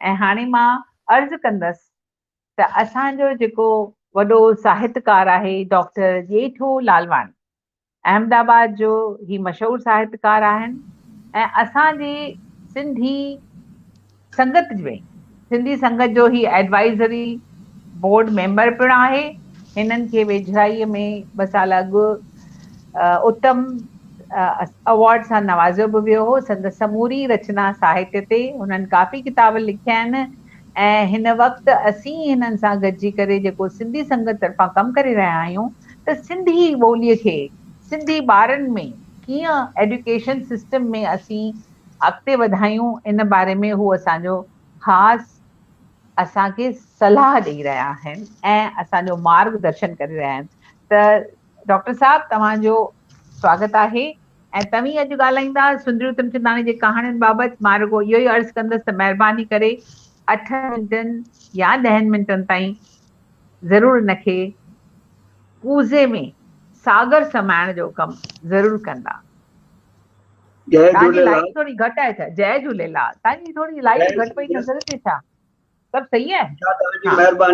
۽ هاڻي مان عرض ڪندس ته اسان جو جيڪو وڏو ساهتڪار آهي ڊاڪٽر ڄيٺو لالواڻي احمد آباد جو هي مشهور ساهتڪار آهن ۽ اسان جي سنڌي سنگت ۾ سنڌي سنگت جو هي ايڊوائيزري بورڊ ميمبر پڻ آهي هنن کي ويجهڙائي ۾ ٻه سال اڳ اتم ايوارڊ سان نوازيو به ويو هو. سندس سموري رچنا ساهتيه تي هنن ڪافي ڪتاب لکيا آهن ۽ هن وقت اسين هنن سان گڏجي ڪري جيڪو سنڌي سنگت طرفان ڪم ڪري رهيا آهيون ته سنڌي ٻولي کي سنڌي ٻارن ۾ ڪيئن ايڊيوڪيشن سسٽم ۾ اسين اڳتي وڌايون ان باري ۾ هو اسان جو خاص اسان کي صلاح ڏئي رهيا آهن ۽ اسان جو مارگ درشن ڪري رهيا آهن ته ڊاڪٽر صاحب توهان جو سواگت آهي ۽ توهين اڄ ڳالهائيندا سندريو تمچنداڻي جي ڪهاڻين بابت مان رڳو اهو ئي عرض ڪندس ته مهرباني ڪري اٺن منٽن يا ڏهن منٽن تائين ضرور ان کي ڪوزي ۾ ساگر سمائڻ جو ڪم ضرور ڪندا. جي تهانجي لائيٽ ٿوري گهٽ آهي ڇا. جئي جهوليلال تهانجي ٿوري لائيٽ گهٽ پئي نظر اچي ڇا سڀ صحيح آهي. ها.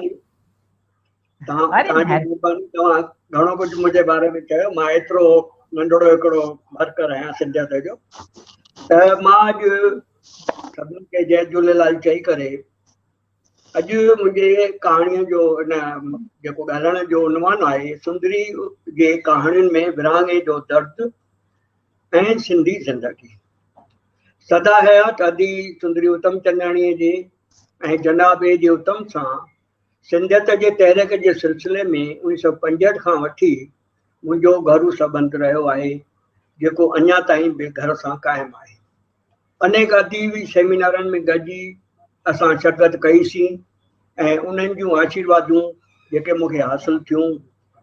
گهڻو ڪجهه منهنجي باري ۾ چيو مان ايترو ننڍڙو هڪڙو ورڪر آهيان سنڌيات جو ته مان اڄ سڀني کي جي جهليلال چئي ڪري اڄ منهنجي ڪهاڻي جو ان جيڪو ڳالهائڻ جو عنوان آهي سندري جي ڪهاڻين ۾ ورهاڱي جو درد ۽ سنڌي زندگي سدا حيات ادي سندري اتم چنداڻي جي ۽ جناب اي جي اتم سان سنڌيت جي تحريڪ جي سلسلي ۾ انيس سؤ پنجهٺ کان وٺي منهنجو گهرو سٻنڌ رهيو آهي، جيڪو اڃا تائين به گهر سان قائم آهي. انيڪ اديبي سيمينارن ۾ گڏجي اسان شرڪت ڪئي سين ۽ انهن جون آشيروادون جيڪي مون کي حاصل ٿيون،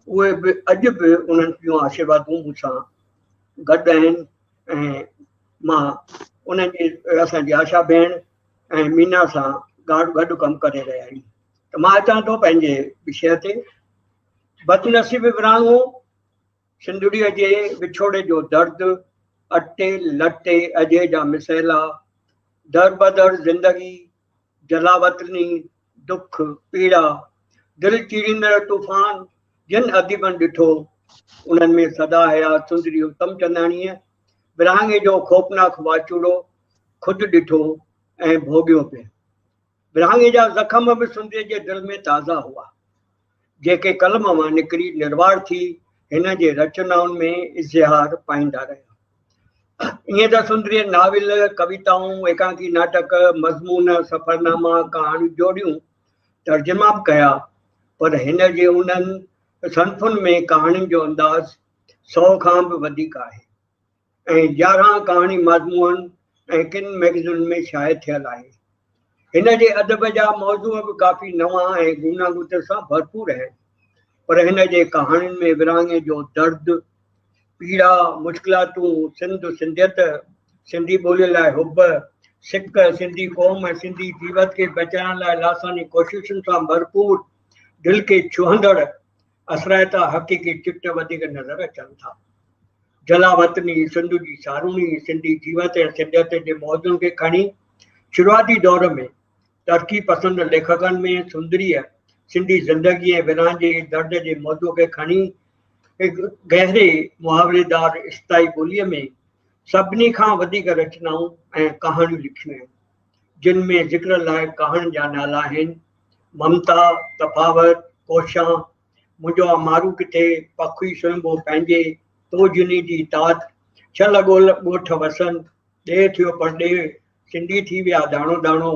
اهي به اڄ به انهن جون آشيروادون مون سان گڏ آهن ۽ مان انهن جي اسان جي آشا ڀيڻ، ۽ مينا سان گاڏ گڏ ڪم ڪري رهيا آهيون ته مان اچان ٿو پنهنجي وشيه تي بدنصيب وراڻو سنڌڙيء جي وڇوڙي جو درد اٽي لٽي اجهي جا مسئلا در بدر زندگي جلاوطني ڏک، پيڙا، دل چيريندڙ طوفان جن اديبن ڏٺو، انهن ۾ سدا حيات سندري اتم چنداڻيء ورهاڱي جو خوفناڪ واچوڙو خود ڏٺو ۽ ڀوڳيو پڻ. ورهاڱي جا زخم به سندري جي دل ۾ تازا هئا. جيڪي قلم مان نڪري نروار ٿي هن جي رچنائن ۾ اظهار پائيندا رهيا. ائين ته سندريء ناول، ڪويتائون، ايڪانڪي ناٽڪ، مضمون، سفرناما، ڪهاڻيون جوڙيون، ترجما به ڪيا، پر هن جي انهن صنفن ۾ ڪهاڻين جو انداز سئو کان به وڌيڪ آهي. ۽ يارهن ڪهاڻي مضمونن ۽ ڪن مئگزينن ۾ شايع ٿيل آهي. هن جي ادب جا موضوع به ڪافي نوان ۽ گوناگونتين سان ڀرپور آهن، پر هن جي ڪهاڻين ۾ ورهاڱي جو درد، پيڙا، مشڪلاتون، سنڌ، سنڌيت، سنڌي ٻوليء لاء حب، سڪ، سنڌي قوم ۽ سنڌي جيوت کي بچائڻ لاء لاثاني ڪوششن سان ڀرپور دل کي ڇهندڙ، اسرائي تان حقيقي چٽ وڌيڪ نظر اچن ٿا. جلا وطني سنڌ جي ساروڻي سنڌي جيوت ۽ سنڌيت جي موضوعن کي کڻي شروعاتي دور ۾ ترقي پسند ليکڪن ۾ سندريء سنڌي زندگي ۽ ورهاڱي جي درد جي موضوع کي کڻي هڪ گهري محاوريدار استائي ٻوليء ۾ سڀني کان وڌيڪ رچنائون ۽ ڪهاڻيون لکيون آهن جن ۾ ذڪر لائق ڪهاڻين جا نالا آهن ممتا، تفاوت، ڪوشان، منهنجو آ مارو ڪٿي، پکوئي سنهنبو پنهنجي، تو جني جي تات، ڇهه لڳول ڳوٺ وسن، ڏيهه ٿيو پرڏيهه، سنڌي ٿي ويا داڻو داڻو،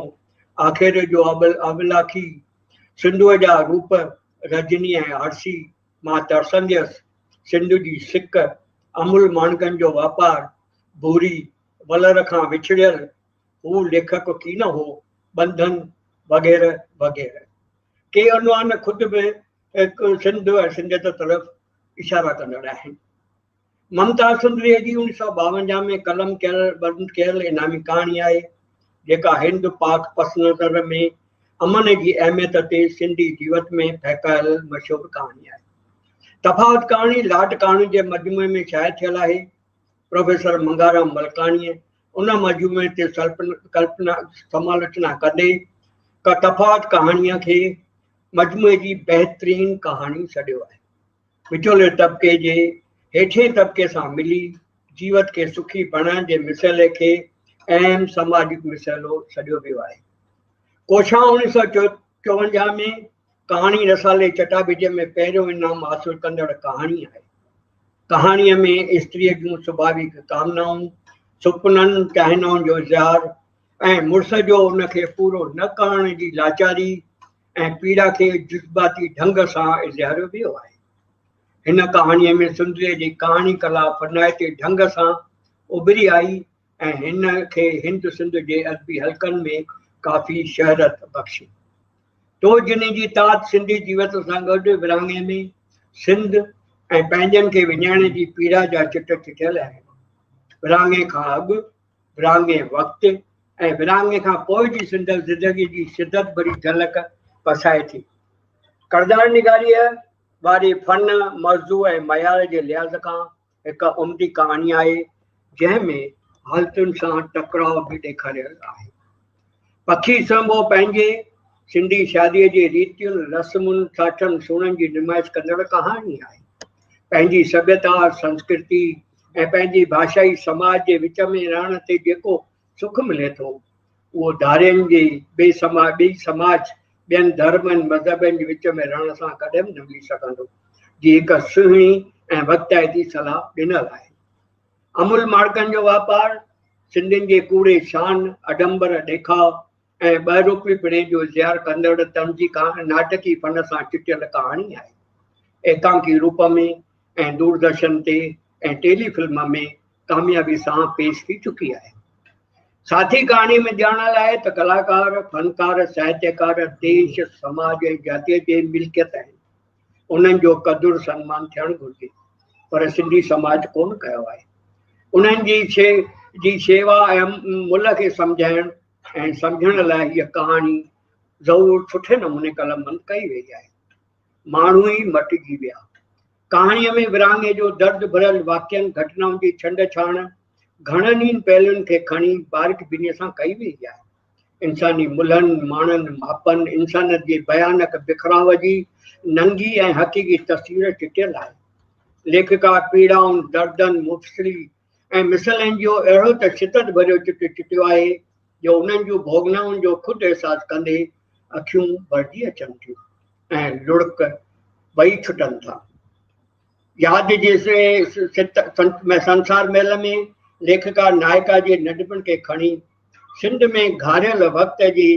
آخر جو ابل ابلاکي، سنڌوء جا روپ، رجني ۽ آرسي، مان ترسنديس، سنڌ جي سڪ، امول ماڻڪن جو واپار، ڀوري، ولر کان وڇڙيل، هو ليکڪ ڪي نه هو، ٻنڌن وغيره وغيره. ڪي عنوان خود به سنڌ ۽ سنڌيت طرف اشارا ڪندڙ آهن. ممتاز سندريء جي اڻ سؤ ٻاونجاهه ۾ قلم ڪيل بند ڪيل انعامي ڪهاڻي آهي، جيڪا هند پاڪ پس نظر ۾ امن جي اهميت تي سنڌي جيوت ۾ ڦهڪايل مشهور ڪهاڻي آهي. تفاوت ڪهاڻي لاٽ ڪهاڻين جي مجموعي ۾ شايع ٿيل آهي. پروفيسر منگهارام ملڪاڻيء ان مجموعي تي ڪلپنا سمالوچنا ڪندي ڪا تفاوت ڪهاڻيء کي مجموعي جي بهترين ڪهاڻي سڏيو آهي. وچولي طبقي جي هيٺين طبقي سان ملي جيوت کي سکي بڻائڻ جي مسئلي کي اهم سماجي مسئلو سڏيو ويو آهي. ڪوشان اڻويهه سؤ چوونجاهه ۾ ڪهاڻي رسالي چٽاڀيٽيء ۾ پهريون انعام حاصل ڪندڙ ڪهاڻي آهي. ڪهاڻيء ۾ استريء جون سڀاويڪ ڪامنائون، سپنن، چاهنائن جو اظهار ۽ مڙس جو ان کي پورو نه ڪرڻ جي لاچاري ۽ پيڙا کي جذباتي ڍنگ سان اظهاريو ويو آهي. هن ڪهاڻيء ۾ سندريء جي ڪهاڻي ڪلا فنائتي ڍنگ سان اڀري آئي ۽ هن کي هند سنڌ جي ادبي حلقن ۾ ڪافي شهرت بخشي. تو جني جي تات سنڌي جيوت سان گڏ ورهاڱي ۾ سنڌ ۽ پنهنجن کي وڃائڻ جي پيڙا جا چٽ چٽيل آهن. ورهاڱي کان اڳ، ورهاڱي وقت ۽ ورهاڱي کان پوء جي سندس زندگي جي شدت ڀري جهلڪ پسائي ٿي. ڪردار نگاريء واري فن، موضوع ۽ معيار جي لحاظ کان هڪ عمدي ڪهاڻي آهي، جنهن ۾ حالتن سان ٽڪراء به ڏيکاريل آهي. پکي سڻڀو پنهنجي سنڌي شاديء جي ريتين، رسمن، ساٺن سوڻن جي نمائش ڪندڙ ڪهاڻي آهي. پنهنجي سڀيتا، سنسڪرتي ۽ پنهنجي ڀاشائي سماج جي وچ ۾ رهڻ تي جيڪو سک ملي ٿو، اهو ڌارين جي ٻئي سماج، ٻين ڌرمن، مذهبن جي وچ ۾ رهڻ سان ڪڏهن به نه ملي سگهندو، جي هڪ سهڻي ۽ وقتائتي صلاح ڏنل آهي. امول ماڙڪن جو واپار، سنڌين جي ڪوڙي شان، اڍمبر، ڏيکاء، ۽ ٻه رخي پڻي جو اظهار ڪندڙ طنز جي ناٽڪي فن سان چٽيل ڪهاڻي آهي. ايڪانڪي روپ ۾ ۽ دوردرشن تي ۽ ٽيلي فلم ۾ ڪاميابي سان پيش ٿي چڪي آهي. ساٿي ڪهاڻي ۾ ڄاڻڻ لاء ته ڪلاڪار، فنڪار، ساهتيڪار ديش، سماج ۽ جاتيء جي ملڪيت آهن. انهن جو قدر سنمان ٿيڻ گهرجي. پر سنڌي سماج ڪونه ڪيو آهي. انهن جي جي شيوا ۽ ملهه کي سمجهائڻ، کين سمجهڻ لاء هيء ڪهاڻي ضرور سٺي نموني قلم بند ڪئي ويئي آهي. ماڻهو ئي مٽجي ويا. ڪهاڻيء ۾ ورهاڱي جو درد ڀريل واقعن گهٽنائن جي ڇنڊ ڇاڻ گهڻن ئي پهلون کي کڻي باريڪ بينيء سان ڪئي ويئي آهي. انساني ملهن، ماڻن، ماپن، انسانيت جي ڀيانڪ بکراء جي ننگي ۽ حقيقي تصوير چٽيل آهي. ليکڪا پيڙائن، دردن، مفصلي ۽ مثل اين جيو اهڙو ته شدت ڀريو چٽ چٽيو آهي جو انهن جون ڀوڳنائن جو خود احساس ڪندي اکيون ڀرجي اچن ٿيون ۽ لڙڪ ٻئي ڇٽن ٿا. ياد جي سنسار ميل ۾ ليکڪا نائڪا جي ننڍپڻ کي کڻي سنڌ ۾ گهاريل وقت جي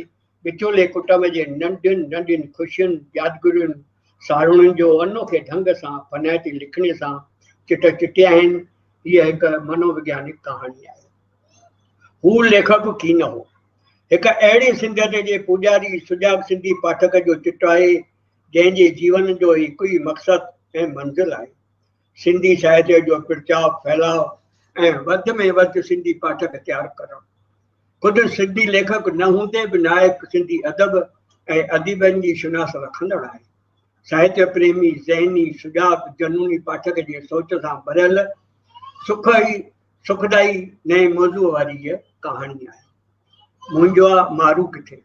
وچولي ڪٽنب جي ننڍين ننڍين خوشين، يادگرين، ساروڻين جو انوکي ڍنگ سان ڦنائتي لکڻي سان چٽ چٽي آهن. هيء هڪ منووگيانڪ ڪهاڻي آهي. هو ليکڪ ڪي نه هو. هڪ اهڙي سنڌيت جي پوڄاري سجاڳ سنڌي پاٺڪ جو چٽ آهي، جنهن جي جيون جو هڪ ئي مقصد ۽ منزل آهي. سنڌي ساهتيه جو پرچاء، ڦهلاء ۽ وڌ ۾ وڌ سنڌي پاٺڪ تيار ڪرڻ. خود سنڌي ليکڪ نه هوندي به نائڪ سنڌي ادب ۽ اديبن جي شناس رکندڙ آهي. ساهتيه پريمي، ذهني، سجاڳ، جنوني پاٺڪ جي سوچ سان ڀريل سک ئي سکدائي نئين موضوع واري هيء ڪهاڻي آهي. منهنجوآ مارو ڪٿي؟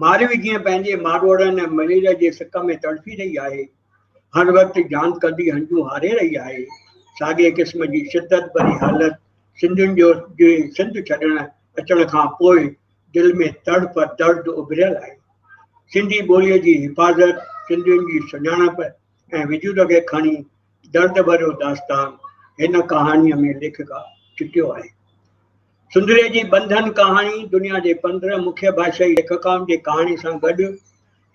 ماروي جيئن پنهنجي ماروئڙن ۽ مليريا جي سڪ ۾ تڙڦي رهي آهي، هر وقت جان ڪندي هنجون هاري رهي آهي، ساڳئي قسم جي شدت ڀري حالت سنڌين جو جي سنڌ ڇڏڻ اچڻ کان پوء دل ۾ تڙڦ، درد اڀريل آهي. سنڌي ٻوليء جي حفاظت، سنڌين جي سڃاڻپ ۽ وجود کي کڻي درد ڀريو داستان هن ڪهاڻيء ۾ ليکڪا چٽيو آهي. سندري جي ٻنڌن ڪهاڻي دنيا جي پندرهن مکيه ڀاشائي ليکڪائن جي ڪهاڻي سان گڏ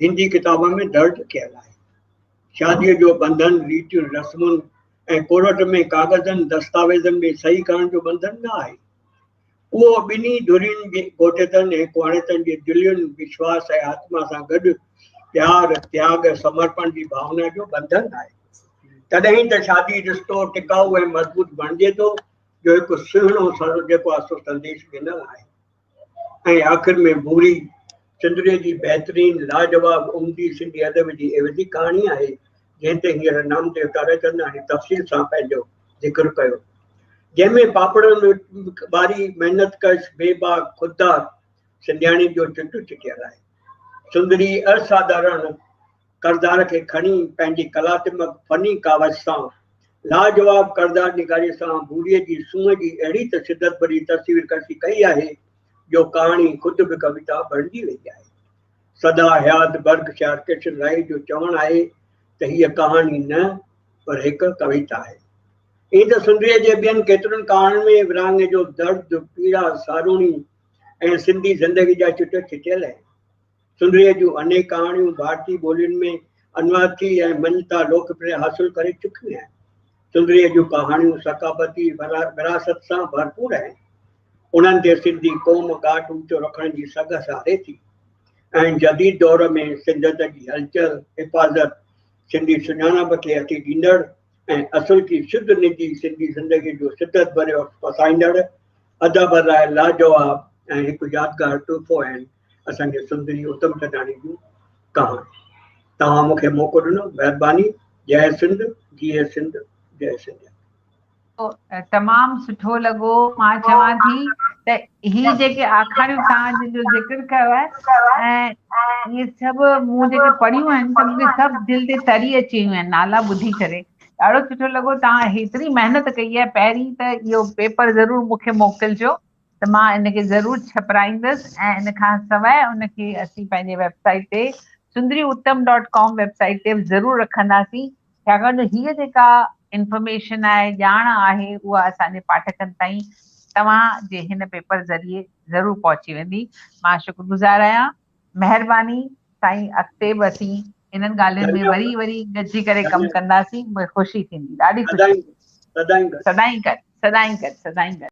هندي ڪتابن ۾ درج ڪيل آهي. شاديء جو ٻنڌن ريتيون رسمن ۽ ڪورٽ ۾ ڪاغذن دستاويزن ۾ صحيح ڪرڻ جو ٻنڌن نه آهي. اهو ٻنهي ڌرين جي گهوٽيتن ۽ ڪهاڻيتن جي دلين، وشواس ۽ آتما سان گڏ پيار، تياڳ ۽ سمرپڻ جي ڀاونا جو ٻنڌن آهي. تڏهن ئي ته شادي رشتو ٽڪائو ۽ مضبوط بڻجي ٿو. جو هڪ سهڻو سر جيڪو آسو سنديش ڏنل آهي ۽ آخر ۾ ڀوري چندري جي بهترين لاجواب عمدي سنڌي ادب جي عيوضي ڪهاڻي آهي جنهن تي هينئر نامديو تاريچند آهي تفصيل سان پنهنجو ذڪر ڪيو جنهن ۾ پاپڙن ٻاري محنت ڪش بي باغ خوددار سنڌياڻي جو چٽو چٽيل آهي سندري اصادارڻ ڪردار کي کڻي پنهنجي ڪلااتمڪ فني ڪاوش سان لاجواب ڪردار نگاريء سان بوريء جي سونهن جي اهڙي ته شدت ڀري تصوير ڪشي ڪئي آهي جو ڪهاڻي خود به ڪويتا بڻجي وئي آهي. سدا حيات برڪشائر ڪشن رائي جو چوڻ آهي ته هيء ڪهاڻي نه پر هڪ ڪويتا آهي. ائين ته سنڌيء جي ٻين ڪيترن ڪهاڻين ۾ ورهاڱي جو درد، پيڙا، ساروڻي ۽ سنڌي زندگي جا چٽ ڇٽيل آهن. سنريء جون انيڪ ڪهاڻيون ڀارتي ٻولين ۾ انواعتي ۽ مڃتا لوڪپريا حاصل ڪري چڪيون آهن. سنريء جون ڪهاڻيون ثقافتي وراثت سان ڀرپور آهن. انهن تي سنڌي قوم ڳاٽ اوچو رکڻ جي سگهه ساري ٿي ۽ جديد دور ۾ سنڌيت جي هلچل، حفاظت، سنڌي سڃاڻپ کي اٿي ڏيندڙ ۽ اصل ڪي شڌ نجي سنڌي زندگيء جو شدت ڀريو عڪس پسائيندڙ ادب لاء لاجواب ۽ هڪ يادگار تحفو آهن. اسان کي سندري اتم ٿڌاڻي جون ڪهاڻيون توهان مون کي موقعو ڏنو مهرباني جئه سنڌ جيئي سنڌ جئه سنڌ تمام سٺو لڳو مان چوان ٿي ته هي جيڪي آکاڻيون توهان جن جو ذڪر ڪيو آهي ۽ اهي سڀ مون جيڪي پڙهيون آهن ته مون کي سڀ دل تي تري اچي ويون آهن نالا ٻڌي ڪري ڏاڍو سٺو لڳو توهان هيتري محنت ڪئي آهي پهرين ته اهو پيپر ضرور مون کي موڪلجو ته مان ان کي ضرور ڇپرائيندس ۽ ان کان سواء ان کي اسين پنهنجي ويب سائيٽ تي Sundri Uttam dot com website تي به ضرور رکنداسين ڇاڪاڻ جو هيء جيڪا انفارميشن آهي ڄاڻ آهي اها اسان جي پاٺڪن تائين توهان جي هن پيپر ذريعي ضرور پهچي ويندي مان شڪرگذار آهيان مهرباني سائين اڳتي به اسين انهن ڳالهين ۾ وري وري گڏجي ڪري ڪم ڪنداسين مون کي خوشي ٿيندي ڏاڍي خوشي سدائين گڏ سدائين گڏ سدائين گڏ